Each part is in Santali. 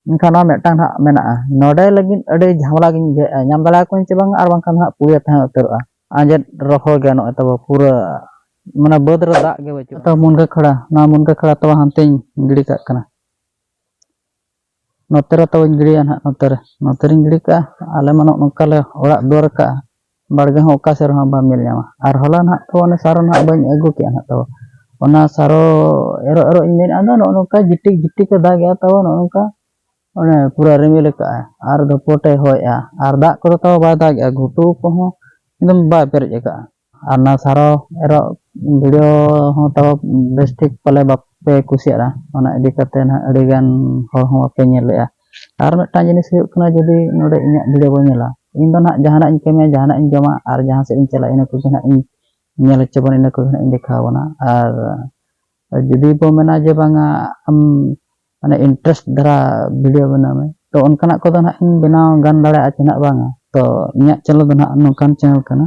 ᱢᱮᱱᱠᱷᱟᱱ ᱱᱚᱣᱟ ᱢᱤᱫᱴᱟᱝ ᱦᱟᱸᱜ ᱢᱮᱱᱟᱜᱼᱟ ᱱᱚᱰᱮ ᱞᱟᱹᱜᱤᱫ ᱟᱹᱰᱤ ᱡᱷᱟᱢᱮᱞᱟ ᱜᱤᱧ ᱵᱩᱡᱷᱟᱹᱣᱮᱫᱼᱟ ᱧᱟᱢ ᱫᱟᱲᱮᱭᱟᱠᱚᱣᱟᱧ ᱥᱮ ᱵᱟᱝ ᱟᱨ ᱵᱟᱝᱠᱷᱟᱱ ᱦᱟᱸᱜ ᱯᱩᱲᱭᱟᱹ ᱛᱟᱦᱮᱸ ᱩᱛᱟᱹᱨᱚᱜᱼᱟ ᱟᱸᱡᱮᱫ ᱨᱚᱦᱚᱲ ᱜᱮ ᱱᱚᱜᱼᱚᱭ ᱛᱟᱵᱚ ᱯᱩᱨᱟᱹ ᱢᱟᱱᱮ ᱵᱟᱹᱫᱽ ᱨᱮ ᱫᱟᱜ ᱜᱮ ᱵᱟᱹᱪᱩᱜᱼᱟ ᱛᱚ ᱢᱩᱱᱜᱟᱹ ᱠᱷᱟᱲᱟ ᱱᱚᱣᱟ ᱢᱩᱱᱜᱟᱹ ᱠᱷᱟᱲᱟ ᱛᱚ ᱦᱟᱱᱛᱮᱧ ᱜᱤᱰᱤ ᱠᱟᱜ ᱠᱟᱱᱟ ᱱᱚᱛᱮ ᱨᱮ ᱛᱚᱵᱮᱧ ᱜᱤᱰᱤᱭᱟ ᱱᱟᱦᱟᱜ ᱱᱚᱛᱮ ᱨᱮ ᱱᱚᱛᱮ ᱨᱤᱧ ᱜᱤᱰᱤ ᱠᱟᱜᱼᱟ ᱟᱞᱮ ᱢᱟ ᱱᱚᱜᱼᱚ ᱱᱚᱝᱠᱟ ᱞᱮ ᱚᱲᱟᱜ ᱫᱩᱣᱟᱹᱨ ᱠᱟᱜᱼᱟ ᱵᱟᱲᱜᱮ ᱦᱚᱸ ᱚᱠᱟ ᱥᱮᱫ ᱨᱮᱦᱚᱸ ᱵᱟᱢ ᱧᱮᱞ ᱧᱟᱢᱟ ᱟᱨ ᱦᱚᱞᱟ ᱱᱟᱦᱟᱜ ᱛᱚ ᱚᱱᱮ ᱥᱟᱨᱚ ᱱᱟᱦᱟᱜ ᱵᱟᱹᱧ ᱟᱹᱜᱩ ᱠᱮᱜᱼᱟ ᱱᱟᱦᱟᱜ ᱛᱚ ᱚᱱᱟ ᱥᱟᱨᱚ ᱮᱨᱚᱜ ᱮᱨᱚᱜ ᱤᱧ ᱢᱮᱱᱮᱫᱼᱟ ᱫᱚ ᱱᱚᱜᱼᱚ ᱱᱚᱝᱠᱟ ᱡᱤᱴᱤᱠ ᱡᱤᱴᱤᱠ ᱮ ᱫᱟᱜᱮᱜᱼᱟ ᱛᱟᱣ ᱱᱚᱜᱼᱚ ᱱᱚᱝᱠᱟ ᱚᱱᱮ ᱯᱩᱨᱟᱹ ᱨᱤᱢᱤᱞ ᱟᱠᱟᱜᱼᱟ ᱟᱨ ᱫᱷᱚᱯᱚᱴᱮ ᱦᱚᱭᱮᱜᱼᱟ ᱟᱨ ᱫᱟᱜ ᱠᱚᱫᱚ ᱛᱟᱣ ᱵᱟᱭ ᱫᱟᱜᱮᱜᱼᱟ ᱜᱷᱩᱴᱩ ᱠᱚᱦᱚᱸ ᱮᱠᱫᱚᱢ ᱵᱟᱭ ᱯᱮᱨᱮᱡ ᱟᱠᱟᱜᱼᱟ ᱟᱨ ᱚᱱᱟ ᱥᱟᱨᱚ ᱮᱨᱚᱜ ᱵᱷᱤᱰᱤᱭᱳ ᱦᱚᱸ ᱛᱟᱣ ᱵᱮᱥ ᱴᱷᱤᱠ ᱯᱟᱞᱮ ᱵᱟᱯᱮ ᱠᱩᱥᱤᱭᱟᱜᱼᱟ ᱚᱱᱟ ᱤᱫᱤ ᱠᱟᱛᱮᱫ ᱱᱟᱦᱟᱜ ᱟᱹᱰᱤᱜᱟᱱ ᱦᱚᱲ ᱦᱚᱸ ᱵᱟᱯᱮ ᱧᱮᱞ ᱞᱮᱜᱼᱟ ᱟᱨ ᱢᱤᱫᱴᱟᱝ ᱡᱤᱱᱤᱥ ᱦᱩᱭᱩᱜ ᱠᱟᱱᱟ ᱡᱩᱫᱤ ᱱᱚᱰᱮ ᱤᱧᱟᱹᱜ ᱵᱷᱤᱰᱤᱭᱳ ᱵᱚᱱ ᱧᱮᱞᱟ ᱤᱧ ᱫᱚ ᱱᱟᱦᱟᱜ ᱡᱟᱦᱟᱱᱟᱜ ᱤᱧ ᱠᱟᱹᱢᱤᱭᱟ ᱡᱟᱦᱟᱱᱟᱜ ᱤᱧ ᱡᱚᱢᱟ ᱟᱨ ᱡᱟᱦᱟᱸ ᱥᱮᱫ ᱤᱧ ᱪᱟᱞᱟᱜᱼᱟ ᱤᱱᱟᱹ ᱠᱚᱜᱮ ᱱᱟᱦᱟᱜ ᱤᱧ ᱧᱮᱞ ᱦᱚᱪᱚ ᱵᱚᱱᱟ ᱤᱱᱟᱹ ᱠᱚᱜᱮ ᱱᱟᱦᱟᱜ ᱤᱧ ᱫᱮᱠᱷᱟᱣ ᱵᱚᱱᱟ ᱟᱨ ᱡᱩᱫᱤ ᱵᱚ ᱢᱮᱱᱟ ᱡᱮ ᱵᱟᱝᱟ ᱟᱢ ᱢᱟᱱᱮ ᱤᱱᱴᱟᱨᱮᱥᱴ ᱫᱷᱟᱨᱟ ᱵᱷᱤᱰᱤᱭᱳ ᱵᱮᱱᱟᱣ ᱢᱮ ᱛᱚ ᱚᱱᱠᱟᱱᱟᱜ ᱠᱚᱫᱚ ᱱᱟᱦᱟᱜ ᱤᱧ ᱵᱮᱱᱟᱣ ᱜᱟᱱ ᱫᱟᱲᱮᱭᱟᱜᱼᱟ ᱪᱮ ᱱᱟᱦᱟᱜ ᱵᱟᱝᱟ ᱛᱚ ᱤᱧᱟᱹᱜ ᱪᱮᱱᱮᱞ ᱫᱚ ᱱᱟᱦᱟᱜ ᱱᱚᱝᱠᱟᱱ ᱪᱮᱱᱮᱞ ᱠᱟᱱᱟ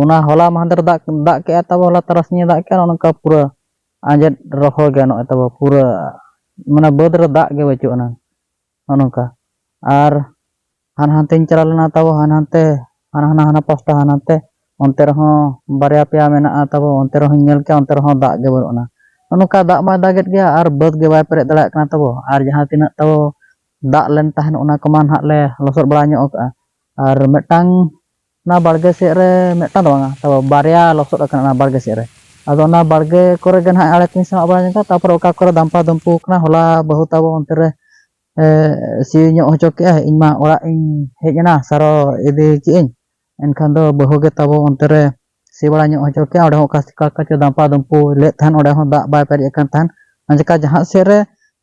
ᱚᱱᱟ ᱦᱚᱞᱟ ᱢᱟᱦᱫᱮᱨ ᱫᱟᱜ ᱫᱟᱜ ᱠᱮᱜᱼᱟ ᱛᱟᱵᱚ ᱦᱚᱞᱟ ᱛᱟᱨᱟᱥᱤᱧᱮ ᱫᱟᱜ ᱠᱮᱜᱼᱟ ᱚᱱᱠᱟ ᱯᱩᱨᱟᱹ ᱟᱸᱡᱮᱫ ᱨᱚᱦᱚᱲ ᱜᱮ ᱱᱚᱜᱼᱚᱭ ᱛᱟᱵᱚ ᱯᱩᱨᱟᱹ ᱢᱟᱱᱮ ᱵᱟᱹᱫᱽ ᱨᱮ ᱫᱟᱜ ᱜᱮ ᱵᱟᱹᱪᱩᱜ ᱟᱱᱟᱝ ᱱᱚᱜᱼᱚ ᱱᱚᱝᱠᱟ ᱟᱨ ᱦᱟᱱᱟ ᱦᱟᱱᱛᱮᱧ ᱪᱟᱞᱟᱣ ᱞᱮᱱᱟ ᱛᱟᱵᱚ ᱦᱟᱱᱟ ᱦᱟᱱᱛᱮ ᱦᱟᱱᱟ ᱦᱟᱱᱟ ᱦᱟᱱᱟ ᱯᱟᱥᱴᱟ ᱦᱟᱱᱟ ᱦᱟᱱᱛᱮ ᱚᱱᱛᱮ ᱨᱮᱦᱚᱸ ᱵᱟᱨᱭᱟ ᱯᱮᱭᱟ ᱢᱮᱱᱟᱜᱼᱟ ᱛᱟᱵᱚ ᱚᱱᱛᱮ ᱨᱮᱦᱚᱸᱧ ᱧᱮᱞ ᱠᱮᱜᱼᱟ ᱚᱱᱛᱮ ᱨᱮᱦᱚᱸ ᱫᱟᱜ ᱜᱮ ᱵᱟᱹᱱᱩᱜ ᱟᱱᱟ ᱱᱚᱜᱼᱚ ᱱᱚᱝᱠᱟ ᱫᱟᱜ ᱢᱟᱭ ᱫᱟᱜᱮᱫ ᱜᱮᱭᱟ ᱟᱨ ᱵᱟᱹᱫᱽ ᱜᱮ ᱵᱟᱭ ᱯᱮᱨᱮᱡ ᱫᱟᱲᱮᱭᱟᱜ ᱠᱟᱱᱟ ᱛᱟᱵᱚ ᱟᱨ ᱡᱟᱦᱟᱸ ᱛᱤᱱᱟᱹᱜ ᱛᱟᱵᱚ ᱫᱟᱜ ᱞᱮᱱ ᱛᱟᱦᱮᱱ ᱚᱱᱟ ᱠᱚᱢᱟ ᱱᱟᱦᱟᱜ ᱞᱮ ᱞᱚᱥᱚᱫ ᱵᱟᱲᱟ ᱧᱚᱜ ᱠᱟᱜᱼᱟ ᱟᱨ ᱢᱤᱫᱴᱟᱝ ᱚᱱᱟ ᱵᱟᱲᱜᱮ ᱥᱮᱫ ᱨᱮ ᱢᱤᱫᱴᱟᱝ ᱫᱚ ᱵᱟᱝᱟ ᱛᱟᱵᱚ ᱵᱟᱨᱭᱟ ᱞᱚᱥᱚᱫ ᱟᱠᱟᱱᱟ ᱚᱱᱟ ᱵᱟᱲᱜᱮ ᱥᱮᱫ ᱨᱮ ᱟᱫᱚ ᱚᱱᱟ ᱵᱟᱲᱜᱮ ᱠᱚᱨᱮ ᱜᱮ ᱱᱟᱦᱟᱜ ᱟᱲᱮ ᱠᱚᱧ ᱥᱟᱢᱟᱜ ᱵᱟᱲᱟ ᱧᱚᱜᱟ ᱛᱟᱨᱯᱚᱨᱮ ᱚᱠᱟ ᱠᱚᱨᱮ ᱫᱟᱢᱯᱟ ᱫᱩᱢᱯᱩ ᱟᱠᱟᱱᱟ ᱦᱚᱞᱟ ᱵᱟᱹᱦᱩ ᱛᱟᱵᱚ ᱚᱱᱛᱮ ᱨᱮ ᱥᱤ ᱧᱚᱜ ᱦᱚᱪᱚ ᱠᱮᱫᱼᱟᱭ ᱤᱧ ᱢᱟ ᱚᱲᱟᱜ ᱤᱧ ᱦᱮᱡ ᱮᱱᱟ ᱥᱟᱨᱚ ᱤᱫᱤ ᱠᱮᱫ ᱟᱹᱧ ᱮᱱᱠᱷᱟᱱ ᱫᱚ ᱵᱟᱹᱦᱩ ᱜᱮ ᱛᱟᱵᱚ ᱚᱱᱛᱮ ᱨᱮ ᱥᱤ ᱵᱟᱲᱟ ᱧᱚᱜ ᱦᱚᱪᱚ ᱠᱮᱫᱼᱟ ᱚᱸᱰᱮ ᱦᱚᱸ ᱚᱠᱟ ᱪᱤᱠᱟᱹ ᱞᱮᱠᱟ ᱪᱚ ᱫᱟᱢᱯᱟ ᱫᱩᱢᱯᱩ ᱞᱮᱫ ᱛᱟᱦᱮᱱ ᱚᱸᱰᱮ ᱦᱚᱸ ᱫᱟᱜ ᱵᱟᱭ ᱯᱮᱨᱮᱡ ᱟᱠᱟᱱ ᱛᱟᱦᱮᱱ ᱚᱱᱟ ᱪᱤᱠᱟᱹ ᱡᱟᱦᱟᱸ ᱥᱮᱫ ᱨᱮ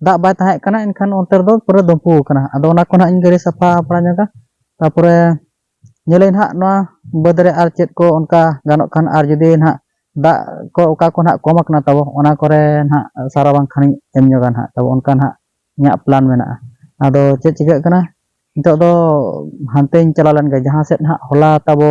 ᱫᱟᱜ ᱵᱟᱭ ᱛᱟᱦᱮᱸ ᱠᱟᱱᱟ ᱮᱱᱠᱷᱟᱱ ᱚᱱᱛᱮ ᱨᱮᱫᱚ ᱯᱩᱨᱟᱹ ᱫᱩᱢᱯᱩ ᱟᱠᱟᱱᱟ ᱟᱫᱚ ᱚᱱᱟ ᱠᱚ ᱱᱟᱦᱟᱜ ᱤᱧ ᱜᱟᱹᱰᱤ ᱥᱟᱯᱷᱟ ᱵᱟᱲᱟ ᱧᱚᱜᱟ ᱛᱟᱨᱯᱚᱨᱮ ᱧᱮᱞᱟᱹᱧ ᱦᱟᱸᱜ ᱱᱚᱣᱟ ᱵᱟᱹᱫᱽ ᱨᱮ ᱟᱨ ᱪᱮᱫ ᱠᱚ ᱚᱱᱠᱟ ᱜᱟᱱᱚᱜ ᱠᱷᱟᱱ ᱟᱨ ᱡᱩᱫᱤ ᱱᱟᱦᱟᱜ ᱫᱟᱜ ᱠᱚ ᱚᱠᱟ ᱠᱚ ᱱᱟᱦᱟᱜ ᱠᱚᱢ ᱟᱠᱟᱱᱟ ᱛᱟᱵᱚ ᱚᱱᱟ ᱠᱚᱨᱮ ᱱᱟᱦᱟᱜ ᱥᱟᱨᱟ ᱵᱟᱝᱠᱷᱟᱱᱤᱧ ᱮᱢ ᱧᱚᱜᱟ ᱱᱟᱦᱟᱜ ᱛᱟᱵᱚ ᱚᱱᱠᱟ ᱱᱟᱦᱟᱜ ᱤᱧᱟᱹᱜ ᱯᱞᱟᱱ ᱢᱮᱱᱟᱜᱼᱟ ᱟᱫᱚ ᱪᱮᱫ ᱪᱤᱠᱟᱹᱜ ᱠᱟᱱᱟ ᱱᱤᱛᱚᱜ ᱫᱚ ᱦᱟᱱᱛᱮᱧ ᱪᱟᱞᱟᱣ ᱞᱮᱱ ᱜᱮ ᱡᱟᱦᱟᱸ ᱥᱮᱫ ᱱᱟᱦᱟᱜ ᱦᱚᱞᱟ ᱛᱟᱵᱚ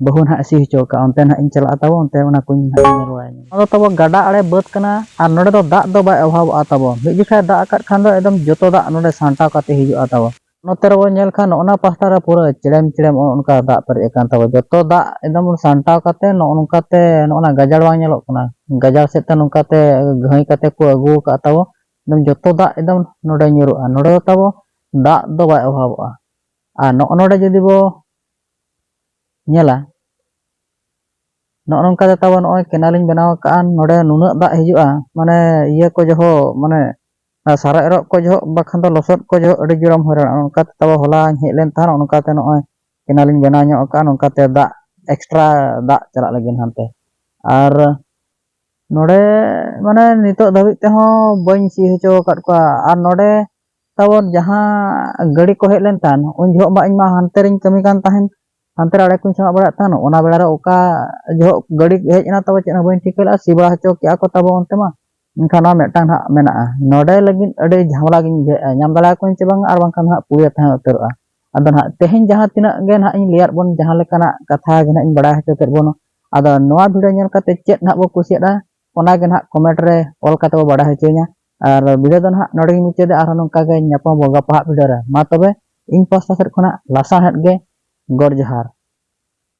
ᱵᱟᱹᱦᱩ ᱱᱟᱦᱟᱜ ᱥᱤ ᱦᱚᱪᱚ ᱟᱠᱟᱫᱼᱟ ᱚᱱᱛᱮ ᱱᱟᱦᱟᱜ ᱤᱧ ᱪᱟᱞᱟᱜᱼᱟ ᱛᱟᱵᱚ ᱚᱱᱛᱮ ᱚᱱᱟ ᱠᱚᱧ ᱧᱮᱞ ᱵᱟᱲᱟᱭᱟ ᱱᱚᱣᱟ ᱫᱚ ᱛᱟᱵᱚ ᱜᱟᱰᱟ ᱟᱲᱮ ᱵᱟᱹᱫᱽ ᱠᱟᱱᱟ ᱟᱨ ᱱᱚᱰᱮ ᱫᱚ ᱫᱟᱜ ᱫᱚ ᱵᱟᱭ ᱚᱵᱷᱟᱵᱚᱜᱼᱟ ᱛᱟᱵᱚ ᱢᱤᱫ ᱡᱚᱠᱷᱟᱡ ᱫᱟᱜ ᱟᱠᱟᱫ ᱠᱷᱟᱱ ᱫᱚ ᱮᱠᱫᱚᱢ ᱡᱚᱛᱚ ᱫᱟᱜ ᱱᱚᱰᱮ ᱥᱟᱢᱴᱟᱣ ᱠᱟᱛᱮᱫ ᱦᱤᱡᱩᱜᱼᱟ ᱛᱟᱵᱚ ᱱᱚᱛᱮ ᱨᱮᱵᱚᱱ ᱧᱮᱞ ᱠᱷᱟᱱ ᱱᱚᱜᱼᱚ ᱱᱟ ᱯᱟᱦᱴᱟ ᱨᱮ ᱯᱩᱨᱟᱹ ᱪᱮᱲᱮᱢ ᱪᱮᱲᱮᱢ ᱱᱚᱜᱼᱚ ᱱᱚᱝᱠᱟ ᱫᱟᱜ ᱯᱮᱨᱮᱡ ᱟᱠᱟᱱ ᱛᱟᱵᱚᱱᱟ ᱡᱚᱛᱚ ᱫᱟᱜ ᱮᱠᱫᱚᱢ ᱥᱟᱢᱴᱟᱣ ᱠᱟᱛᱮ ᱱᱚᱜᱼᱚ ᱱᱚᱝᱠᱟᱛᱮ ᱱᱚᱜᱼᱚ ᱱᱟ ᱜᱟᱡᱟᱲ ᱵᱟᱝ ᱧᱮᱞᱚᱜ ᱠᱟᱱᱟ ᱜᱟᱡᱟᱲ ᱥᱮᱫ ᱛᱮ ᱱᱚᱝᱠᱟᱛᱮ ᱜᱷᱟᱹᱭ ᱠᱟᱛᱮ ᱠᱚ ᱟᱹᱜᱩ ᱟᱠᱟᱫ ᱛᱟᱵᱚ ᱮᱠᱫᱚᱢ ᱡᱚᱛᱚ ᱫᱟᱜ ᱮᱠᱫᱚᱢ ᱱᱚᱰᱮ ᱧᱩᱨᱩᱜᱼᱟ ᱱᱚᱰᱮ ᱫᱚ ᱛᱟᱵᱚ ᱫᱟᱜ ᱫᱚ ᱵᱟᱭ ᱚᱵᱷᱟᱵᱚᱜᱼᱟ ᱟᱨ ᱱᱚᱜᱼᱚ ᱱᱚᱰᱮ ᱡᱩᱫᱤ ᱵᱚ ᱧᱮᱞᱟ ᱱᱚᱜᱼᱚ ᱱᱚᱝᱠᱟᱛᱮ ᱛᱟᱵᱚ ᱱᱚᱜᱼᱚᱭ ᱠᱮᱱᱟᱞᱤᱧ ᱵᱮᱱᱟᱣ ᱟᱠᱟᱫᱼᱟ ᱱᱚᱰᱮ ᱱᱩᱱᱟᱹᱜ ᱫᱟᱜ ᱦᱤᱡᱩᱜᱼᱟ ᱢᱟᱱᱮ ᱤᱭᱟᱹ ᱠᱚ ᱡᱚᱦᱚᱜ ᱢᱟᱱᱮ ᱟᱨ ᱥᱟᱨ ᱮᱨᱚᱜ ᱠᱚ ᱡᱚᱦᱚᱜ ᱵᱟᱠᱷᱟᱱ ᱫᱚ ᱞᱚᱥᱚᱫ ᱠᱚ ᱡᱚᱦᱚᱜ ᱟᱹᱰᱤ ᱡᱳᱨᱮᱢ ᱦᱚᱭᱨᱟᱱᱚᱜᱼᱟ ᱚᱱᱠᱟᱛᱮ ᱛᱟᱵᱚ ᱦᱚᱞᱟᱧ ᱦᱮᱡ ᱞᱮᱱ ᱛᱟᱦᱮᱱ ᱚᱱᱠᱟᱛᱮ ᱱᱚᱜᱼᱚᱭ ᱠᱮᱱᱮᱞᱤᱧ ᱵᱮᱱᱟᱣ ᱧᱚᱜ ᱟᱠᱟᱫᱼᱟ ᱱᱚᱝᱠᱟᱛᱮ ᱫᱟᱜ ᱮᱠᱥᱴᱨᱟ ᱫᱟᱜ ᱪᱟᱞᱟᱜ ᱞᱟᱹᱜᱤᱫ ᱦᱟᱱᱛᱮ ᱟᱨ ᱱᱚᱰᱮ ᱢᱟᱱᱮ ᱱᱤᱛᱚᱜ ᱫᱷᱟᱹᱵᱤᱡ ᱛᱮᱦᱚᱸ ᱵᱟᱹᱧ ᱥᱤ ᱦᱚᱪᱚ ᱟᱠᱟᱫ ᱠᱚᱣᱟ ᱟᱨ ᱱᱚᱰᱮ ᱛᱟᱵᱚᱱ ᱡᱟᱦᱟᱸ ᱜᱟᱹᱰᱤ ᱠᱚ ᱦᱮᱡ ᱞᱮᱱ ᱛᱟᱦᱮᱱ ᱩᱱ ᱡᱚᱦᱚᱜ ᱢᱟ ᱤᱧᱢᱟ ᱦᱟᱱᱛᱮ ᱨᱤᱧ ᱠᱟᱹᱢᱤ ᱠᱟᱱ ᱛᱟᱦᱮᱱ ᱦᱟᱱᱛᱮ ᱨᱮ ᱟᱲᱮ ᱠᱚᱧ ᱥᱟᱢᱟᱜ ᱵᱟᱲᱟᱭᱮᱫ ᱛᱟᱦᱮᱱ ᱚᱱᱟ ᱵᱮᱲᱟ ᱨᱮ ᱚᱠᱟ ᱡᱚᱦᱚᱜ ᱜᱟᱹᱰᱤ ᱦᱮᱡ ᱮᱱᱟ ᱛᱟᱵᱚ ᱪᱮᱫ ᱦᱚᱸ ᱵᱟᱹᱧ ᱴᱷᱤᱠᱟᱹ ᱞᱮᱫᱼᱟ ᱥᱤ ᱵᱟᱲᱟ ᱦᱚᱪᱚ ᱠᱮᱫᱼᱟ ᱠᱚ ᱛᱟᱵᱚ ᱚᱱᱛᱮ ᱢᱟ ᱮᱱᱠᱷᱟᱱ ᱱᱚᱣᱟ ᱢᱤᱫᱴᱟᱝ ᱦᱟᱸᱜ ᱢᱮᱱᱟᱜᱼᱟ ᱱᱚᱰᱮ ᱞᱟᱹᱜᱤᱫ ᱟᱹᱰᱤ ᱡᱷᱟᱢᱮᱞᱟ ᱜᱤᱧ ᱵᱩᱡᱷᱟᱹᱣᱮᱫᱼᱟ ᱧᱟᱢ ᱫᱟᱲᱮᱭᱟᱠᱚᱣᱟᱹᱧ ᱥᱮ ᱵᱟᱝ ᱟᱨ ᱵᱟᱝᱠᱷᱟᱱ ᱦᱟᱸᱜ ᱯᱩᱲᱭᱟᱹ ᱛᱟᱦᱮᱸ ᱩᱛᱟᱹᱨᱚᱜᱼᱟ ᱟᱫᱚ ᱱᱟᱦᱟᱜ ᱛᱮᱦᱮᱧ ᱡᱟᱦᱟᱸ ᱛᱤᱱᱟᱹᱜ ᱜᱮ ᱱᱟᱦᱟᱜ ᱤᱧ ᱞᱟᱹᱭᱟᱫ ᱵᱚᱱ ᱡᱟᱦᱟᱸ ᱞᱮᱠᱟᱱᱟᱜ ᱠᱟᱛᱷᱟ ᱜᱮ ᱱᱟᱦᱟᱜ ᱤᱧ ᱵᱟᱲᱟᱭ ᱦᱚᱪᱚ ᱠᱮᱫ ᱵᱚᱱ ᱟᱫᱚ ᱱᱚᱣᱟ ᱵᱷᱤᱰᱤᱭᱳ ᱧᱮᱞ ᱠᱟᱛᱮ ᱪᱮᱫ ᱱᱟᱦᱟᱜ ᱵᱚ ᱠᱩᱥᱤᱭᱟᱫᱼᱟ ᱚᱱᱟ ᱜᱮ ᱱᱟᱦᱟᱜ ᱠᱚᱢᱮᱱᱴ ᱨᱮ ᱚᱞ ᱠᱟᱛᱮ ᱵᱚ ᱵᱟᱰᱟᱭ ᱦᱚᱪᱚᱧᱟ ᱟᱨ ᱵᱷᱤᱰᱤᱭᱳ ᱫᱚ ᱱᱟᱦᱟᱜ ᱱᱚᱰᱮ ᱜᱮ ᱢᱩᱪᱟᱹᱫᱟ ᱟᱨᱦᱚᱸ ᱱᱚᱝᱠᱟ ᱜᱮ ᱧᱟᱯᱟᱢ ᱵᱚ ᱜᱟᱯᱟ ᱦᱟᱜ ᱵᱷᱤᱰᱤᱭᱳ ᱨᱮ ᱢᱟ ᱛᱚᱵᱮ ᱤᱧ ᱯᱟᱥᱴᱟ ᱥᱮᱫ ᱠᱷᱚᱱᱟᱜ ᱞᱟᱥᱟᱬᱦᱮᱫ ᱜᱮ ᱜᱚᱰ ᱡᱚᱦᱟᱨ